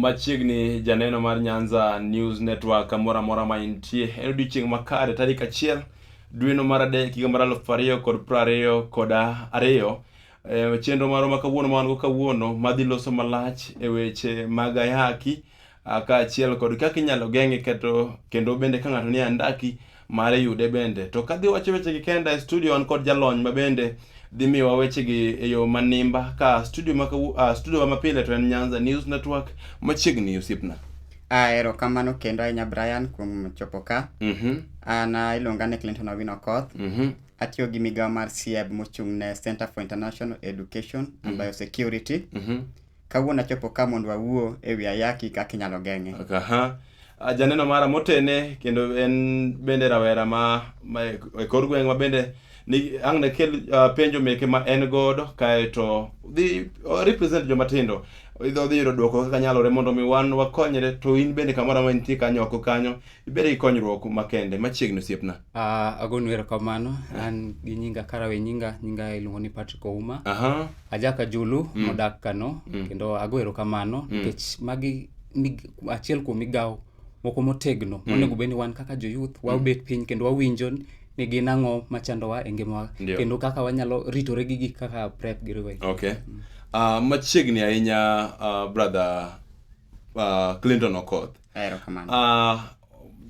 machiegni janeno mar nyanza news network kamoro amora ma intie en odiochieng' makare tarik achiel dweno mar adek higa mar alufu ariyo kod piero ariyo kod ariyo e, chenro marwa ma kawuono ma wan go kawuono madhi loso malach e weche mag ayaki kaachiel kod kaka inyalo geng'e keto kendo bende ka ng'ato nie andaki mar yude bende. To kadhi wacho wechegi kenda e studio an kod jalony ma bende dhi miyowa wechegi e yo manimba ka studio ma uh, studio ma pile to en Nyanza News Network machiegni osiepna. Ah, erokamano kendo ahinya Brian kuom chopo ka. Mm -hmm. An ah, iluonga ni Clinton Owino Koth. Mm -hmm. Atiyo gi migawo mar CIEB mochung' ne Center for International Education and mm -hmm. Biosecurity. Mm -hmm. Kawuono achopo ka mondo wawuo e wi ayaki kaka inyalo geng'e. Aha. Ah, Janeno mara motene kendo en bende rawera ma, ma e kor gweng' ma bende ni ang' ne kel ah, penjo meke ma en godo kaeto dhi o represent joma tindo idho dhi yudo dwoko kaka nyalore mondo mi wan wakonyre to in bende kamoro amora nitie kanyo oko kanyo ibede gi konyruok makende machiegni osiepna. Ah, agonu erokamano. An gi nyinga Karawe nyinga, nyinga iluongo ni Patrick Ouma. Aha. Ajaka Julu mm. modak Kano mm. kendo ago erokamano mm. nikech mm. magi mig, achiel kuom migawo moko motegno mm. monego bed ni wan kaka joyouth mm. wabet mm. piny kendo wawinjo ni gin ang'o machandowa e ngimawa kendo kaka wanyalo ritore gi gik kaka prep gi riwe okay. mm. uh, machiegni ahinya uh, brother uh, Clinton Okoth uh,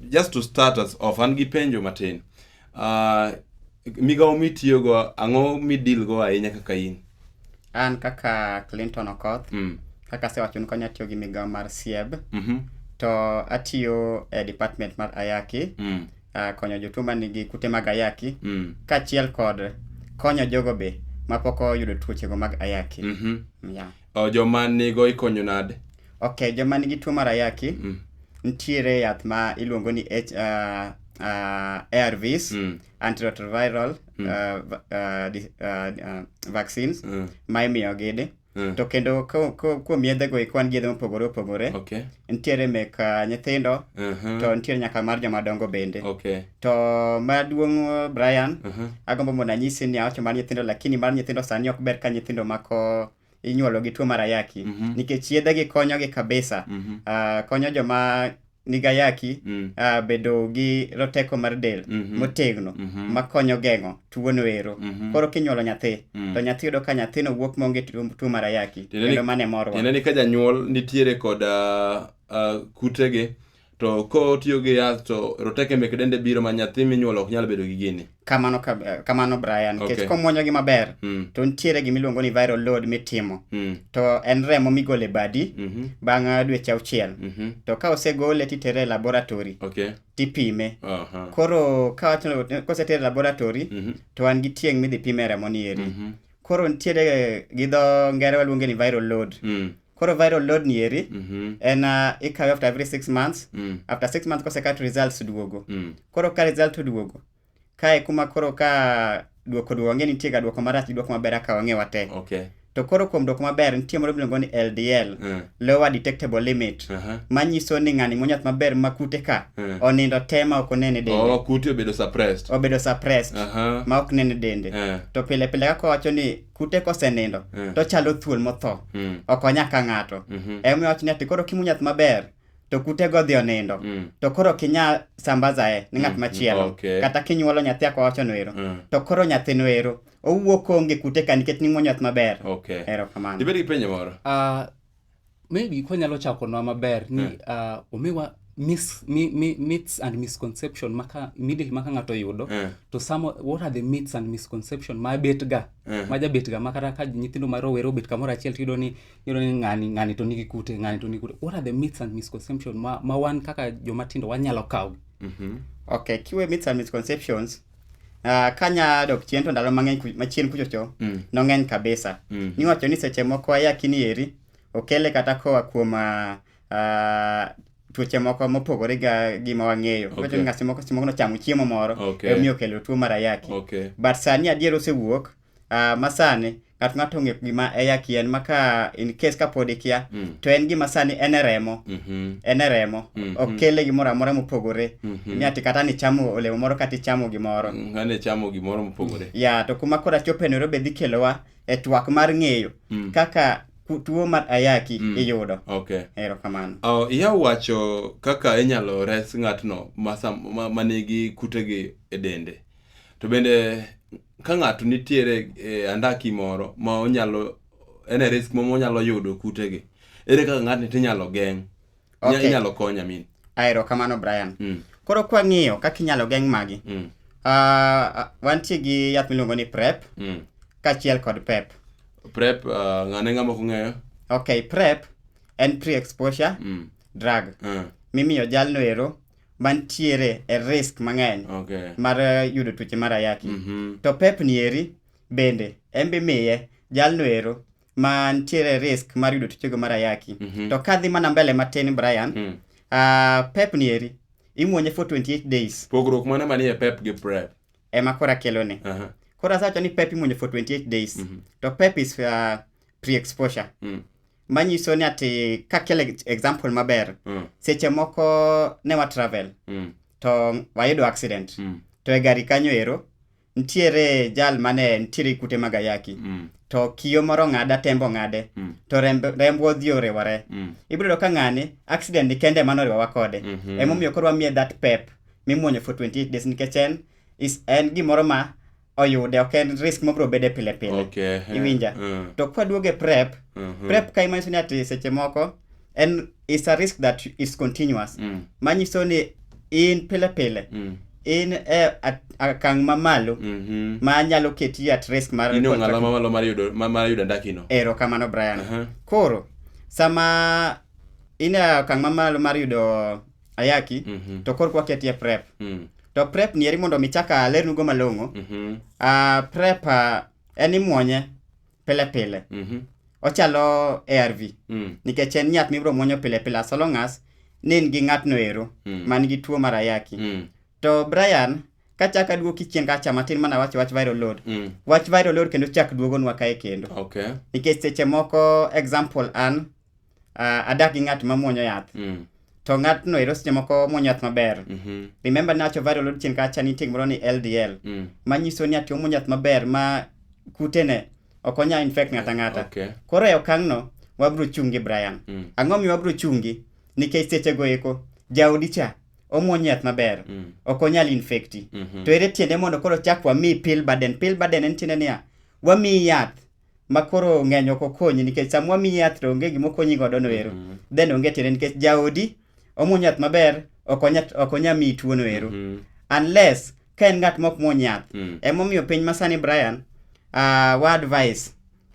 just to start us off an gi penjo matin Uh, migawo mitiyogo ang'o midilgo ahinya kaka in an kaka clinton okoth mm. kaka asewacho ni konya tiyo gi migawo mar sieb mm -hmm. to atiyo e department mar ayaki mm. uh, konyo jotuo ma nigi kute mag ayaki mm. kaachiel kod konyo jogo be mapok oyudo tuochego mag ayaki mm -hmm. yeah. O, joma nigo ikonyo nade? Okay, joma nigi tuo mar ayaki, Mm. nitiere yath ma iluongo ni H, uh, uh, ARVs, Mm. antiretroviral uh, va- uh, dis- uh, uh, vaccines Mm. ma imiyo gidi. Mm. To kendo ko- ko- kuom yedhego eko wan gi yedhe mopogore opogore. Okay. Nitiere mek uh, nyithindo Mhm. to nitiere nyaka mar joma dongo bende. Okay. To maduong' Brian, uh -huh. agombo mondo anyisi ni awacho mar nyithindo lakini mar nyithindo sani ok ber ka nyithindo mako inyuolo gi tuo mar ayaki mm -hmm. nikech yedhegi konyogi kabisa mm -hmm. uh, konyo joma nigayaki mm. uh, bedo gi roteko mar del mm -hmm. motegno mm -hmm. makonyo geng'o tuwono ero mm -hmm. koro kinyuolo nyathi mm. to nyathi yudo ka nyathino wuok maonge tuo mar ayaki kendo mane morwa tiende ni ka janyuol nitiere kod uh, uh, kutege to kotiyo gi yath to roteke mek dende biro ma nyathi minyuolo ok nyal bedo gi gini kamano ka- eh, kamano brian nikech Okay. komwonyogi maber Mm, to nitiere gimiluongo ni viral load mitimo mm, to en remo migole badi mhm, bang' ah, dweche auchiel mhm. to ka osegole titere e laboratory okay tipime aha koro ka wacho- kosetere e laboratory Mhm, to an gi tieng' midhi pime remo ni eri mhm, koro nitiere gi dho ngere waluonge ni viral load Mm. koro viral load ni eri Mhm. en uh, ikawe after every six months Mm. after six months kosekat results duogo Mm. koro ka result oduogo kae kuma koro ka duoko duogo ang'e nitie ga duoko marach gi duoko maber aka wang'e wate Okay. to koro kuom duoko maber nitie moro miluongo ni ldl Mm. lower detectable limit Aha. manyiso ni ng'ani muonyo yath maber ma kute ka Mm. onindo te ma ok onene dende Oh, kute obedo suppressed. obedo suppressed Aha. ma ok nene dende Eh. to pile pile kaka wacho ni kute kosenindo Mm. to chalo thuol motho Mm. ok onya ka ng'ato Mhm. emomiyo wacho ni ati koro kimuonyo yath maber to kute go odhi onindo Mm. to koro kinya sambazae ni ng'at machielo Okay. kata kinyuolo nyathi ako wachono ero Mm. to koro nyathino ero owuo konge kute ka nikech ni ng'wonyo yath maber okay erokamano ibed gi penjo moro uh, maybe kwanyalo chako nwa maber ni hmm. ah, omiwa mis, mi, mi, myths and misconception maka immediately maka ng'ato yudo yeah. to some what are the myths and misconception ma bet ga yeah. Hmm. ma jabet ga makata ka nyithindo ma rowere obet kamoro achiel to yudo ni yudo ni ng'ani ng'ani to nigi kute ng'ani to nigi kute what are the myths and misconception ma, ma wan kaka joma tindo wanyalo kawo mm -hmm. okay kiwe myths and misconceptions Ah, kanya dok chien to ndalo mang'eny ku- machien kuchocho Mm. nong'eny kabisa Mm. niwacho ni seche moko ayakini eri okele kata koa kuom ah, ah, tuoche moko mopogore ga gima wang'eyo Okay. Iwacho ni ng'ato moko seche moko nochamo chiemo moro Okay. omiyo okelo tuo mar ayaki Okay. but sani adier osewuok uh, masani ng'at ng'ato ong'e gima e yaki en maka in case ka pod ikia mm. to en gima sani en e remo mm -hmm. en e remo mm -hmm. ok kele gimoro amora mopogore mm -hmm. miati kata ni chamo olemo moro kata ichamo gimoro mm, ane chamo gimoro mopogore ya yeah, to kuma kora chope nero be dhi kelowa e twak mar ng'eyo mm. kaka tuo mar ayaki mm. iyudo okay. ero kamano oh, iya wacho kaka inyalo res ng'atno manigi ma, ma kutegi e dende To bende ka ng'ato nitiere e andaki moro ma onyalo en e risk moro monyalo yudo kutegi, ere kaka ng'atni tinyalo geng'? Inya- Okay. Inyalo kony amin. aero kamano brian Mm. koro kwang'iyo kaka inyalo geng' magi Mm. uh, wantie gi yath miluongo ni prep Mm. kaachiel kod pep Prep ah, ng'ane ng'ama kong'eyo? okay prep en pre exposure Mm. drug Ah. mimiyo jalno ero mantiere e risk mang'eny okay. mar eh, yudo tuoche mar ayaki mm -hmm. to pep ni eri bende en be miye jalno ero mantiere risk mar yudo tuochego mar ayaki mm -hmm. to kadhi mana mbele matin Brian mm. uh, pep ni eri imwonye for 28 days pogruok mane manie pep gi prep ema kora kelone uh -huh. kora sawacho ni pep imwonye for 28 days mm -hmm. to pep is uh, pre-exposure mm. manyiso ni ati kakel ex- example maber Mm. seche moko ne wa travel Mm. to wayudo accident Mm. to e gari kanyo ero nitiere jal mane nitiere kute mag ayaki Mm. to kiyo moro ng'ada tembo ng'ade Mm. to remb- remb odhi oriwore Mm. ibiro yudo ka ng'ani accident ni kende mano oriwawa kode Mhm. emomiyo koro wamiye that pep mimuonyo for 28 days nikech en is- en gimoro ma oyude ok en risk mobro bede pile pile okay. iwinja uh. to kwaduoge prep uh mhm. -huh. prep ka imanyiso ni ati seche moko en is a risk that is continuous mm. manyiso ni in pile pile mm. in e akang' mamalo mm -hmm. ma nyalo keti at risk mar mamalo mar yudo mar yudo ndakino ero kamano Brian uh -huh. koro sama in e akang' mamalo mar yudo ayaki mm -hmm. to korka waketie prep mm. to prep nieri mondo mi chaka alernugo malong'o mm -hmm. uh, prep uh, en imwonye pile pile mm -hmm. ochalo arv mm. nikech en nyath mibiro mwonyo pile pile as long as ni in gi ng'atno ero mm. man gi tuo mar ayaki mm. to brian kachak aduoki chien kacha matin mana wach wach viral load mm. wach viral load kendo chak duogonwa kae kendo okay. nikech seche moko example an uh, adak gi ng'at ma muonyo yath Mm. to ng'atno ero seche moko muonyo yath maber Mhm. remember nacho viral load chien kacha ni tieng' moro ni ldl Mm. manyiso ni ati omuonyo yath maber ma kutene ok onya infect ng'ata ng'ata Okay. koro e okang'no wabro chungi brian Mm. ang'o miyo wabro chungi nikech sechego eko jaodi cha omuonyo yath maber Mm. ok onyal infekti Mhm. to ere tiende mondo koro chak wamiyi pill burden pill burden en tiende niya wamiyi yath ma koro ng'eny ok okonyi nikech sama wamiyi yath to onge gima okonyi godo no ero Mhm. then onge tiende nikech jaodi omuony yath maber ok onya ok onya miyi tuo no ero Mhm. unless ka en ng'at mok muony yath Mm. emomiyo piny masani Brian uh, wa advice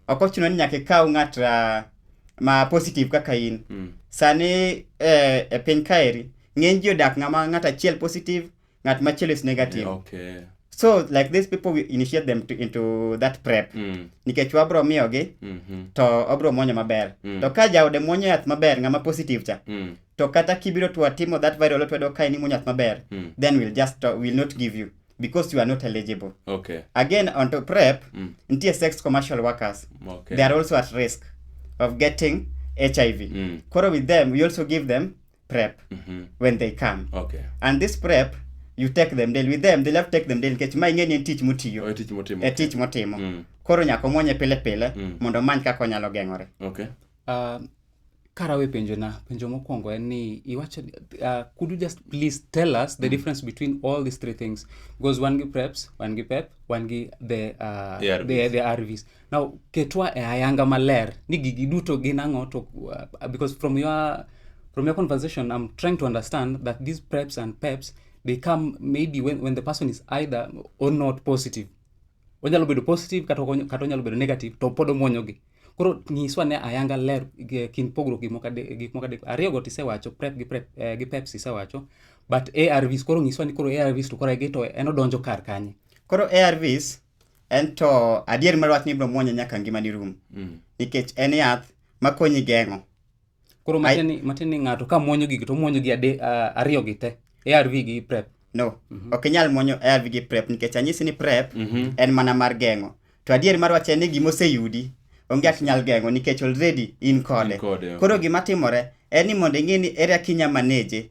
ok ochuno ni nyaka ikaw ng'at uh, ma positive kaka in Mm. sani eh, e piny kaeri ng'eny ji odak ng'ama ng'at achiel positive ng'at machielo is negative okay so like these people we initiate them to, into that prep mm. nikech wabro miyogi mm -hmm. to obro mwonyo maber mm. to ka jaode mwonyo yath maber ng'ama positive cha mm. to kata kibiro to atimo that viral otwedo ka in imwonyo yath maber mm. then we'll just uh, will not give you because you are not eligible okay again on to prep mm. ntie sex commercial workers okay. they are also at risk of getting hiv mm. koro with them we also give them prep Mhm. when they come Okay. and this prep you take them daily with them they love to take them daily nikech ma ing'e ni en tich mutiyo Oe tich motimo. e tich motimo Mm. koro nyaka omwonye pile pile Mm. mondo omany kaka onyalo geng'ore Okay. Uh, karawe penjona penjo mokwongo en ni iwacho uh, could you just please tell us the difference between all these three things because wan gi preps wan gi pep wan gi the, uh, ARVs. the, the arvs Now, ketwa e ayanga maler ni gigi duto gin ang'o to uh, because from your from your conversation I'm trying to understand that these preps and peps they come maybe when, when the person is either or not positive onyalo bedo positive kata onyalo bedo negative to pod omwonyogi koro nyiswa ne ayanga ler kind pogruok gik moko adek ariyogo to isewacho prep gi prep eh, gi peps isewacho but ARVs koro nyiswa ni koro ARVs to koro egi to en odonjo kar kanye koro ARVs en to adier mar wach ni ibiro muonye nyaka ngimani rum mm. nikech en yath makonyi geng'o koro matin ni ng'ato ka muonyo gigi to muonyo gi ariyo gi te arv gi prep no mm -hmm. ok inyal muonyo arv gi prep nikech anyisi ni prep mm -hmm. en mana mar geng'o to adier mar wach en ni gima oseyudi onge ati nyal geng'o nikech already in kode koro gima timore en ni mondo ing'e ni ere akinya maneje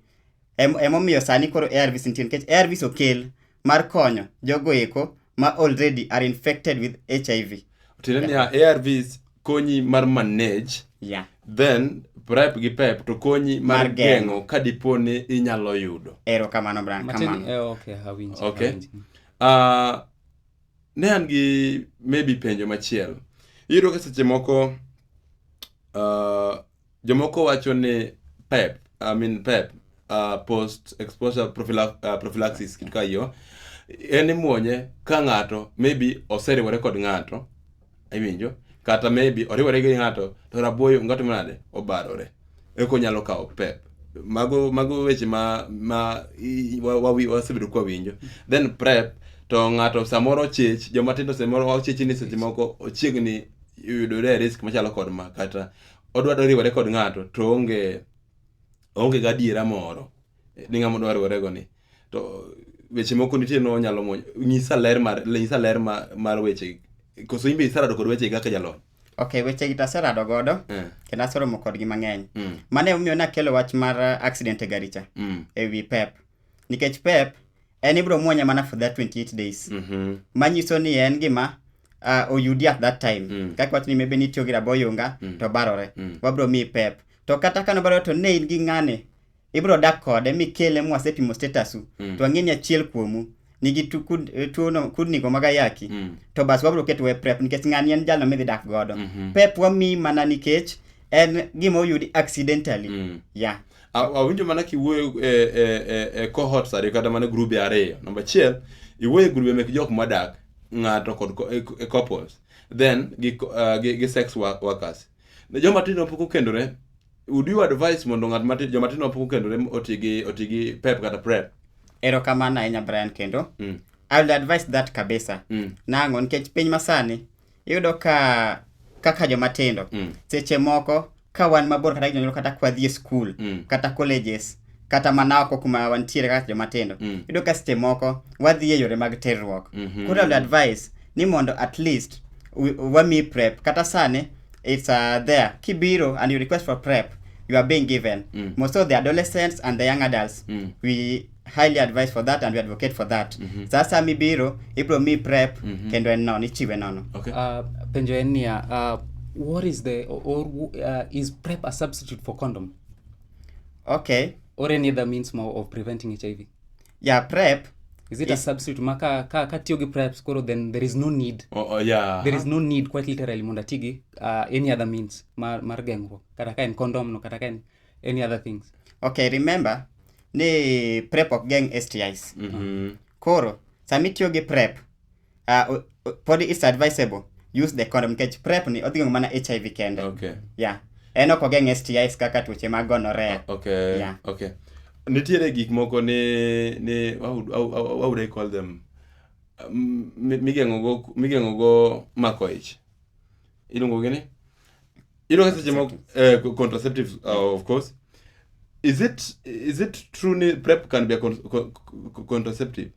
emomiyo sani koro arvs nitie nikech arvs okel mar konyo jogo eko ma already are infected with hiv tiende yeah. niya arvs konyi mar manage yeah. then prep gi pep to konyi mar, mar geng'o ka dipo ni inyalo yudo ero kamano bran kamano eh, okay, hawinji, okay. Hawinji. Uh, ah, ne an gi maybe penjo machielo iyudo ka seche moko uh, Jomoko wacho ni PEP, I mean PEP, uh, post exposure prophylax, uh, prophylaxis kitu ka hiyo en imuonye ka ng'ato maybe oseriwore kod ng'ato iwinjo kata maybe oriwore gi ng'ato to rabuoyo ng'ato manade obarore eko nyalo kawo pep mago mago weche ma ma i- wa- wawi- wasebedo kwa winjo then prep to ng'ato samoro chich joma tindo samoro wachichi ni seche moko ochiegni yudore e risk machalo kod ma kata odwaro riwore kod ng'ato to onge onge gadiera moro ni ng'ama odwa riwore go ni to weche moko nitie no nyalo mo nyisa ler mar nyisa ler mar, mar weche koso imbe isarado kod weche kaka jalony ok weche gi taserado godo eh. kendo aseromo kodgi mang'eny mm. mane omiyo nakelo wach mar accident e garicha mm. e wi pep nikech pep en ibro muonye mana for that 28 days mm -hmm. manyiso ni en gima uh, oyudi at that time mm. kaka wach ni mebe nitiyo gi raboyunga mm. to barore mm. wabro miyi pep to kata kano barore to ne in gi ng'ane ibro dak kode mikele mwasepimo statusu mm. to ang'e ni achiel kuomu nigi eh, tuono kudnigo mag ayaki mm. to bas wabro keto we prep nikech ng'ani en jalno midhi dak godo mm -hmm. pep wamiyi mana nikech en gima oyudi accidentally mm. yeah. Aw- awinjo mana kiwuoyo e, e, e, e cohorts ariyo kata mana grube ariyo namba achiel iwuoyo e grube mek jok modak ng'ato kod co- e- e couples then gi, co- ah, gi, gi sex wo- workers ne joma tindo pok okendore would you advise mondo ng'at mati joma tindo pok okendore oti gi oti gi pep kata prep erokamano ahinya brian kendo Mm. i will advise that kabisa Mm. nang'o nikech piny masani iyudo ka kaka joma tindo mm. seche moko ka wan mabor kata jonyuol kata kwadhi e skul mm. kata colleges kata mana oko kuma wantiere kaka joma tindo mm. iyudo ka seche moko wadhi e yore mag terruok mm -hmm. koro advice ni mondo at least wami prep kata sani it's uh, there kibiro and you request for prep you are being given mm. most of the adolescents and the young adults mm. we highly advised for that and we advocate for that mm -hmm. sasa mibiro ibro mi prep mm -hmm. kendo en nono ichiwe nono okay. uh, penjo en niya uh, what is the or uh, is prep a substitute for condom okay or any other means more of preventing hiv yeah prep is it yeah. a substitute maka ka ka tiyo gi prep koro then there is no need oh, oh, yeah. there is no need quite literally mondo atigi uh, any other means mar, mar geng'ruok kata ka en condom no kata ka en any other things okay remember ni prep ok geng stis Mhm. koro sami tiyo gi prep uh, o- o- pod it's advisable use the condom nikech prep ni odhi geng'o mana hiv kende okay yeah en ok ogeng stis kaka tuoche mag gonorrhea okay Yeah. okay nitiere gik moko ni ni how, would- how, how, how would i call them Um, mi- migeng'ogo migeng'ogo mako ich iluongo gi ni iluongo seche moko eh, co- contraceptives uh, of course is it is it true ni prep can be a con co- co- contraceptive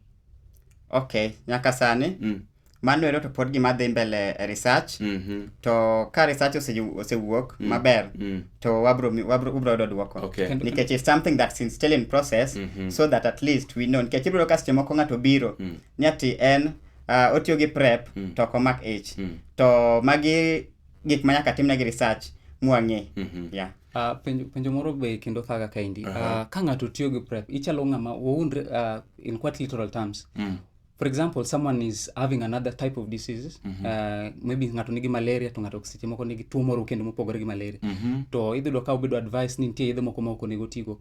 okay nyaka sani mm. mano ero to pod gima dhi mbele e research mhm to ka research ose- osewuok maber mm. to wabro mi- wabro ubro yudo dwoko okay Kendo- nikech it's something that's in still in process Mhm. so that at least we know nikech ibiro ka seche moko ng'ato biro ni ati en uh, otiyo gi prep mm. to ok omak ich mm. to magi gik ma nyaka timnegi research mwang'e mm -hmm. yeah. Uh, penjo, penjo moro be kendo thaga kaendi uh -huh. uh, ka ng'ato tiyo gi prep ichalo ng'ama waundre uh, in quite literal terms mm. for example someone is having another type of diseases mm -hmm. uh, maybe ng'ato nigi malaria to ng'ato seche moko nigi tuo moro kendo mopogore gi malaria mm -hmm. to idhi yudo ka obedo advice ni nitie yedhe moko ma ok onego tigo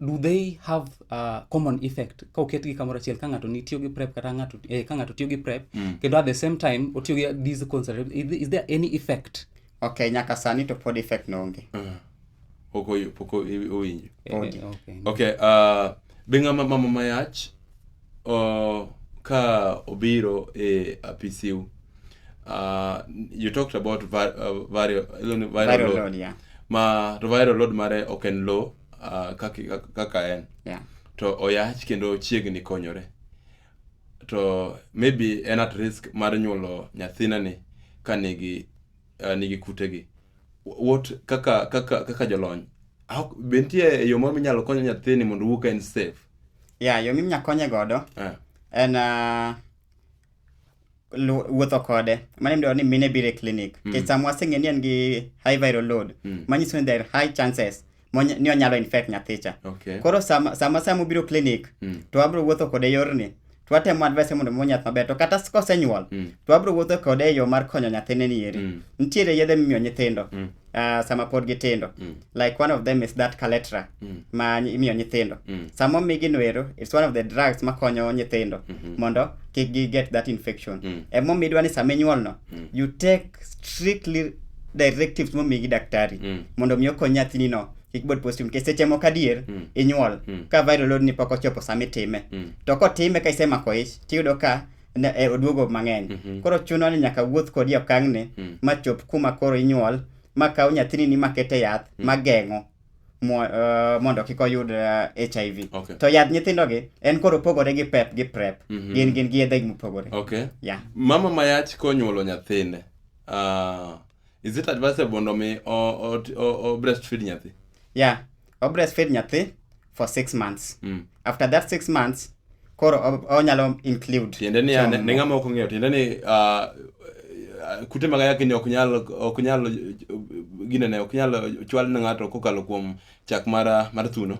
do they have uh, common effect ka oketgi kamoro achiel ka ng'ato tiyo gi prep kata ng'ato eh, ka ng'ato tiyo gi prep mm. kendo at the same time otiyo gi these concept is, is there any effect okay nyaka sani to pod effect no onge uh, pok owinjo eh, eh, okay, okay. Uh, be ng'ama mama mayach uh, ka obiro e apisiu uh, you talked about var, uh, vario, viral, viral load, load yeah. ma to viral load mare ok en low uh, kaka, kaka en yeah. to oyach kendo chiegni konyore to maybe en at risk mar nyuolo nyathina ni ka nigi uh, nigi kutegi what kaka kaka kaka jolony how, be nitie yo moro minyalo konyo nyathini mondo owuog ka en safe ya yo minya konye godo eh. en uh, lu- wuotho kode mane midwaro ni mine biro e clinic mm. kech sama waseng'e ni en gi high viral load mm. manyiso ni there are high chances mony- ni onyalo infect nyathicha Okay. koro sama sama sama obiro clinic Mm. to abro wuotho kode e yorni to atemo advice mondo omo nyath maber to kata s- kosenyuol Mm. to abro wuotho kode e yo mar konyo nyathine ni eri Mm. nitiere yedhe mimiyo nyithindo Mm. ah, sama pod gitindo Mm. like one of them is that caletra Mm. ma ny- imiyo nyithindo Mm. sama omigi noero it's one of the drugs makonyo nyithindo Mhm. mondo kik gi get that infection Mm. emomiyo idwa ni sama inyuolno mm. you take strictly directives momiyi gi daktari mm. mondo mi okony nyathinino kik bed positive nikech seche moko adier mm. inyuol mm. ka viral load ni pok ochopo sama itime mm. to kotime ka isemako ich tiyudo ka e, oduogo mang'eny mm -hmm. koro chuno ni nyaka wuoth kodi okang'ne mm. ma chop kuma koro inyuol ma kaw nyathini ni makete yath mm. ma geng'o Eh, mondo kik oyud hiv eh, okay. to yadh nyithindogi en koro pogore gi pep gi prep mm -hmm. gin gin gi yedhegi mopogore okay. yeah. mama mayach konyuolo nyathine uh, is it advisable mondo mi o breastfeed nyathi yeah o breastfeed nyathi for six months mm. after that six months koro onyalo include tiende ni ne ng'ama ok ong'eyo tiende ni ah, kute mag ayaki ni ok nyal ok nyal ginene ok nyal chwal ne ng'ato kokalo kuom chak mar mar thuno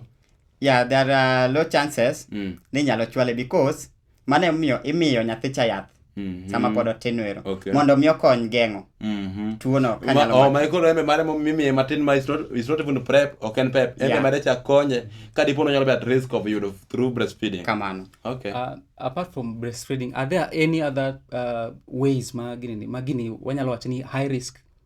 yeah there are low chances mm. ni nyalo chwale because mano emomiyo imiyo nyathi cha yath Mhm. sama pod otin ero Okay. mondo mi okony geng'o Mhm. tuono Ma- kanyalo oh, mako. ma koro embe mare mo- mimiye matin ma is not- is not even prep ok en pep embe Yeah. mare cha konye ka dipo ni onyalo bet risk of yudo through breastfeeding kamano okay Uh, apart from breastfeeding, are there any other uh, ways ma gini, ma gini wanyalo wacho ni high risk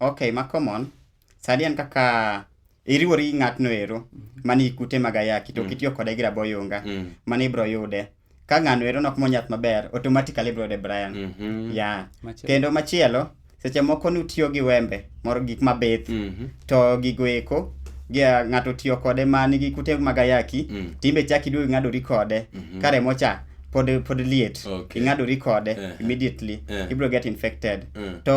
Ok, ma common. Sani en kaka iriwori gi ng'atno ero mani kute mag ayaki to kitiyo kode gi rabo yunga Mm. mani ibro yude. Ka ng'ano ero nok monyath maber, automatically ibro yude Brian. Mhm. Ya. Machielo. Kendo machielo, seche moko nutiyo gi wembe moro gik mabith Mhm. to gigo eko gi ng'ato tiyo kode ma nigi kute mag ayaki Mm. timbe chak iduogo ing'adori kode Mhm. ka remo cha pod pod liet Okay. ing'adori kode Eh. immediately Eh. ibro get infected Mm. to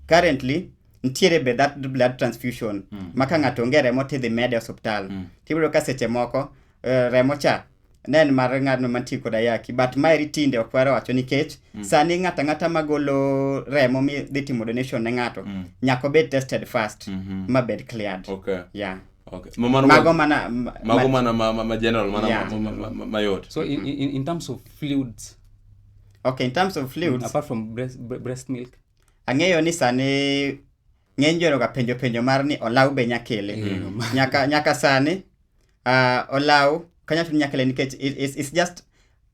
currently nitiere be that blood transfusion mm. ma ka ng'ato onge remo tidhi mede e osiptal mm. tibiro ka seche moko uh, remo cha ne en mar ng'atno mantie kod ayaki but maeri tinde ok wara wacho nikech mm. sani ng'ato ang'ata magolo remo midhi timo donation ne ng'ato mm. nyaka obed tested first mm -hmm. mabed cleared okay. yeah. Okay. mago mana mago mana ma, ma, ma general mana yeah. ma, ma, ma, ma yot so in, in, in terms of fluids okay in terms of fluids apart from breast, breast milk Ang'eyo ni sani ng'eny joro ga penjo penjo mar ni olaw be nyakele. Mm. Nyaka nyaka sani uh, olaw kanya tun nyakele nikech it, it's, it's just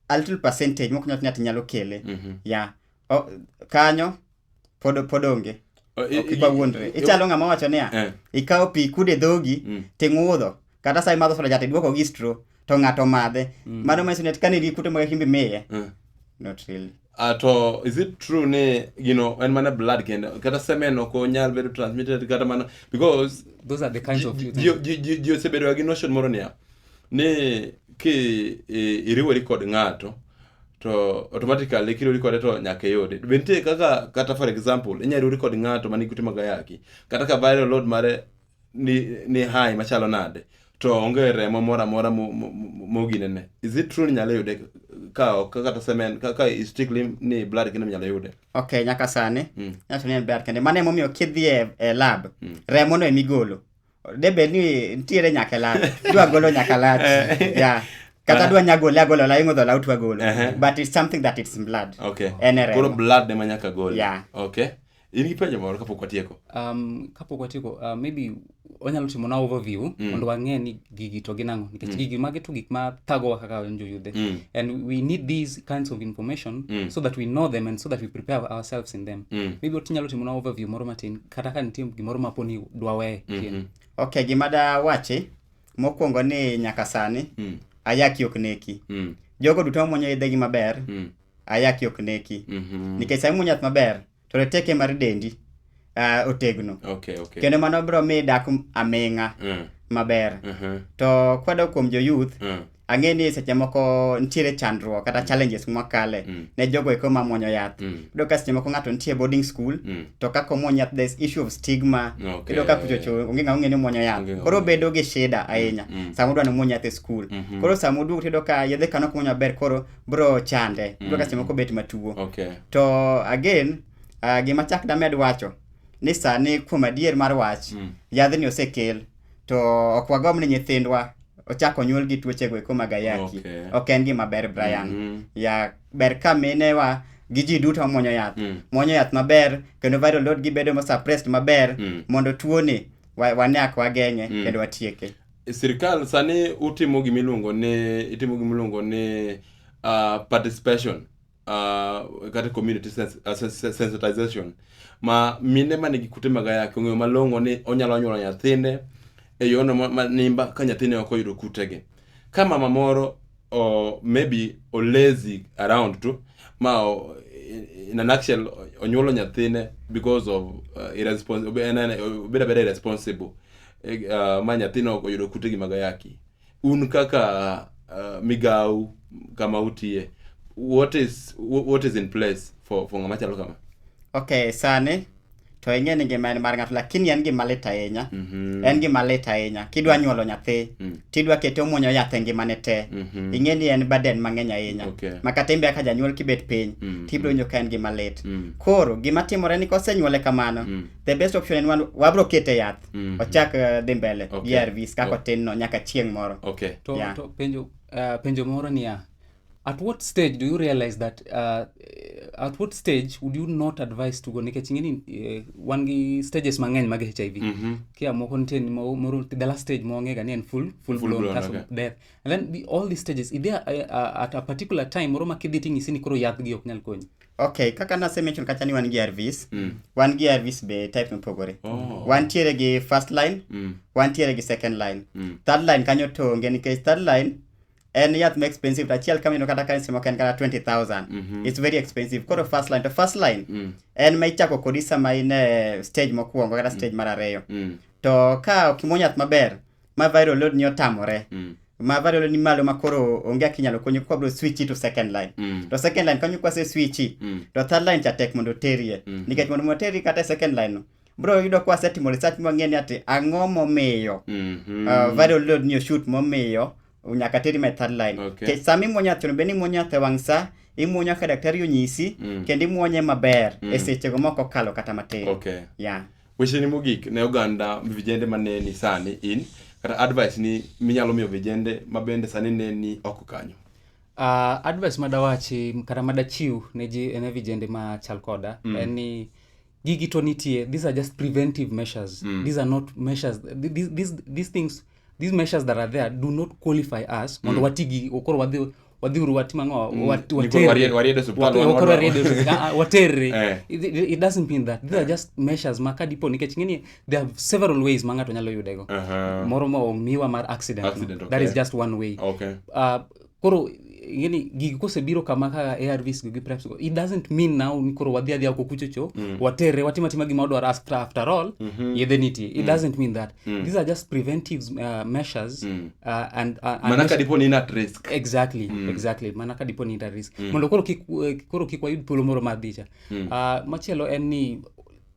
a little percentage mok nyat nyat nyalo kele. Mm -hmm. Yeah. O, kanyo pod pod onge. Oh, ok iba wuondre. Ichalo ng'ama wacho niya, eh. ikawo pi kude dhogi, mm. ting'udho, kata sa imadho soda jate duoko gi stro to ng'ato madhe mm. mano manyiso ni kane gi kute mag himbi miye mm. not really Uh, to is it true ni you know en mana blood kendo kata semen ok onyal bedo transmitted kata mana because those are the kinds of ji osebedoga gi notion moro niya ni ki iriwori kod ng'ato to automatically kiriwori kode to nyaka iyude be nitie kaka kata for example inyalo riwori kod ng'ato manigi kute mag ayaki kata ka viral load mare ni, ni high machalo nade to onge remo moro amora mo- mo- mo- moginene is it true ni nyalo yude ka ok ka kata semen ka ka is strictly ni blood kendo nyalo yude ok nyaka sani Mm. nyaso ni en ber kende mano emomiyo kidhi e, e lab Mm. remo no emigolo de bed ni nitiere nyaka e lab dwa golo nyaka lach Eh. yeah. kata dwa nyagole agolo la ing'o dhola utwa golo Ehe. but it's something that it's in blood okay En e remo. koro blood ema nyaka gol Yeah. okay in gi penjo moro kapok watieko um, kapok watieko uh, maybe wanyalo timo na overview mm. mondo wang'e ni gigi to gin ang'o nikech mm. gigi magi to gik ma thagowa kaka wan joyudhe mm. and we need these kinds of information mm. so that we know them and so that we prepare ourselves in them mm. maybe watinyalo timo na overview moro matin kata ka nitie gimoro mapo ni dwa weye mm -hmm. ok gima da wachi mokwongo ni nyaka sani mm. ayaki ok neki mm. jogo duto mwonyo idhegi maber mm. ayaki ok neki Mhm. nikech sama imuonyo yath maber to reteke mar dendi ah, otegno Okay, okay. kendo mano biro miyo idak aming'a Mm, maber mhm, to kwadok kuom jo youth mm, ang'e ni seche moko nitiere chandruok kata challenges mwakale Mm. ne jogo eko mamwonyo yath mm, iyudo ka seche moko ng'ato nitie boarding school mm. to kaka omwony yath there's issue of stigma Okay. iyudo ka kuchocho onge ng'a ong'e ni omwonyo Onge yath ng'a koro ong'e. bedo gi shida ahinya Mm. sama udwa ni omwony yath e school Mhm. koro sama uduogo tiyudo ka yedhe kano kumwonyo maber koro bro chande bro mm. kase moko bet matuo okay. to again uh, gima chak damed wacho ni sani kuom adier mar wach mm. yadhni osekel to ok wagomb ni nyithindwa ochako nyuol gi tuochego eko mag ayaki okay. ok en gima ber Brian mm -hmm. ya ber ka minewa gi ji duto mwonyo yath mm. mwonyo yath maber kendo viral load gi bedo suppressed maber mm. mondo tuoni wane ak wageng'e mm. kendo watieke sirkal sani utimo gima iluongo ni itimo gima iluongo ni uh, participation uh, kata community sens uh, sens sensitization ma mine ma nigi kute mag ayaki ong'eyo malong'o ni onyalo nyuolo nyathine e yorno ma, ma nimba ka nyathine ok oyudo kutegi ka mama moro o, maybe olazy around tu ma o, in a nutshell onyuolo nyathine because of uh, irrespons- obe- en- en- obedo abeda irresponsible Eh, uh, ma nyathino oyudo kute gi mag ayaki un kaka uh, migawu kama utiye what is wh- what is in place for, for ng'ama chalo kama Okay, sani to ing'e ni ngima en mar ng'ato lakini en gima lit ahinya Mhm. en gima lit ahinya kidwa nyuolo nyathi Mm. tidwa kete omwonyo yath e ngimane te Mhm. ing'e ni en baden mang'eny ahinya Okay. ma kata imbe kaka janyuol kibet piny Mm. tibiro winjo ka en gima lit Mm. koro gima timore ni kosenyuole kamano Mm. the best option en wan- wabiro kete yath Mm. ochak eh, dhi mbele Okay. gi arvs kaka Oh. otin no nyaka chieng' moro Okay. to, Yeah. to penjo uh, penjo moro niya At what stage do you realize that uh, at what stage would you not advise to go nikech ing'eni uh, wan gi stages mang'eny mag HIV mm -hmm. kia moko nitie moro the last stage mong'ega ni en full full, full blown, blown case okay. of death and then the, all these stages is there a, uh, a, uh, at a particular time moro ma kidhi ting'isi ni koro yathgi ok nyal konyi ok kaka nase mention kacha ni wan gi arvis mm. wan gi arvis be type mopogore oh. wantiere gi first line mm. wantiere gi second line mm. third line kanyo to onge nikech third line en yath ma expensive to achiel kama ineno kata ka simo ka en kata 20000 mm -hmm. it's very expensive koro first line to first line mm. en ma ichako kodi sama in e stage mokwongo kata stage mm. mar ariyo mm. to ka okimo yath maber ma viral load ni otamore mm ma value ni malo makoro onge kaka inyalo konyo kwa bro switch to second line mm. to second line kanyo kwase switch mm. to third line cha tek mondo terie mm. nikech mondo moterie kata second line no bro yudo kwa setimo research mang'e ni ati ang'o momiyo Mhm. uh, viral load ni shoot momiyo nyaka teri my third line Okay. Kech sama imuonyo athino bende imuonyo athe wang' sa imuonyo ka daktari onyisi Mm. kendo imuonye maber Mm. e sechego mok okalo kata matin okay yeah. wecheni mogik ne oganda vijende mane ni sani in kata advice ni minyalo miyo vijende ma bende sani ne ni oko kanyo Uh, advice madawachi kata madachiw ne ji ne vijende ma chal koda mm. en ni gigi to nitie these are just preventive measures mm. these are not measures these, these, these things these measures that are there do not qualify us mondo mm. watigi okoro wadhi wadhiuru watimang'o mm. waterre ah, ah, eh. it doesn't mean that these are eh. just measures ma ka dipo nikech ng'eni there are several ways ma ng'ato nyalo yudego moro ma omiwa mar accident that is just one way uh, koro yani gigi kosebiro kama kaka arvs go gi preps go it doesn't mean now ni koro wadhi adhiya ko kuchocho mm. watere watima tima gima wadwaro after, after all mm -hmm. yedhe nitie it mm. doesn't mean that mm. these are just preventive uh, measures mm. uh, and, uh, and mana ka dipo ni in at risk exactly mm. exactly mana ka dipo ni in at risk mm. mondo koro kik uh, koro kik wayud thuolo moro mar dhicha mm. uh, machielo en ni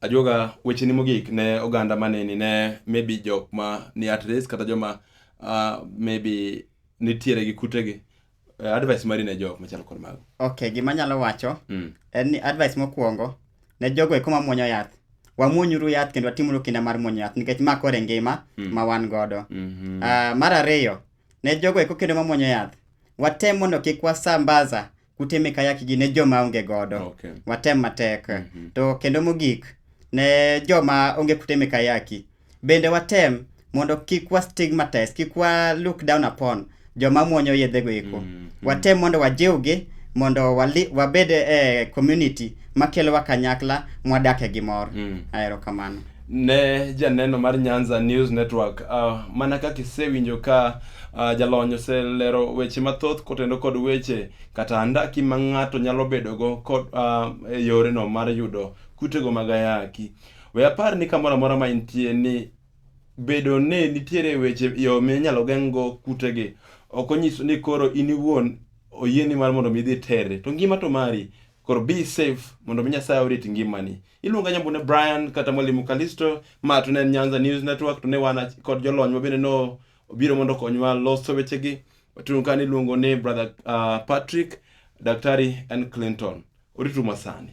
Ajuoga, wecheni mogik ne oganda maneni ne maybe jok ma ni at risk kata joma uh, maybe nitiere gi kutegi. Uh, advice mari ne jok machalo kod mago. Okay, gima anyalo wacho Mm. en ni advice mokwongo ne jogo eko ma muonyo yath. Wamuonyuru yath kendo watimuru kinda mar muonyo yath nikech ma kore ngima Mm. ma wan godo. Mhm. Ah, mar ariyo, ne jogo eko kendo ma muonyo yath, watem mondo kik wasambaza kuteme kayakigi ne joma onge godo Okay. watem matek Mhm. to kendo mogik ne joma onge kuteme kayaki bende watem mondo kik wa stigmatize kik wa look down upon joma muonyo yedhego eko Mhm. watem mondo wajiwgi mondo wali, wabed e community makelowa kanyakla mwadake gi mor Mm. aero kamano ne janeno mar Nyanza News Network. Uh, mana kaka isewinjo ka uh, jalony oselero weche mathoth kotendo kod weche kata andaki ma ng'ato nyalo bedogo kod uh, e yoreno mar yudo kutego mag ayaki. We apar ni kamoro amora ma intie ni bedo ni nitiere weche yo minyalo geng'go kutegi ok onyiso ni koro in iwuon oyieni mar mondo mi idhi terre to ngima to mari koro be safe mondo mi Nyasaye orit ngimani. Iluonga nyambune Brian kata Mwalimu Kalisto, ma to ne en Nyanza News Network, to ne wan ach- kod jolony ma bende no obiro mondo okonywa loso wechegi. Watun ka niluongo ni Brother uh, Patrick, Daktari and Clinton. Orituma sani.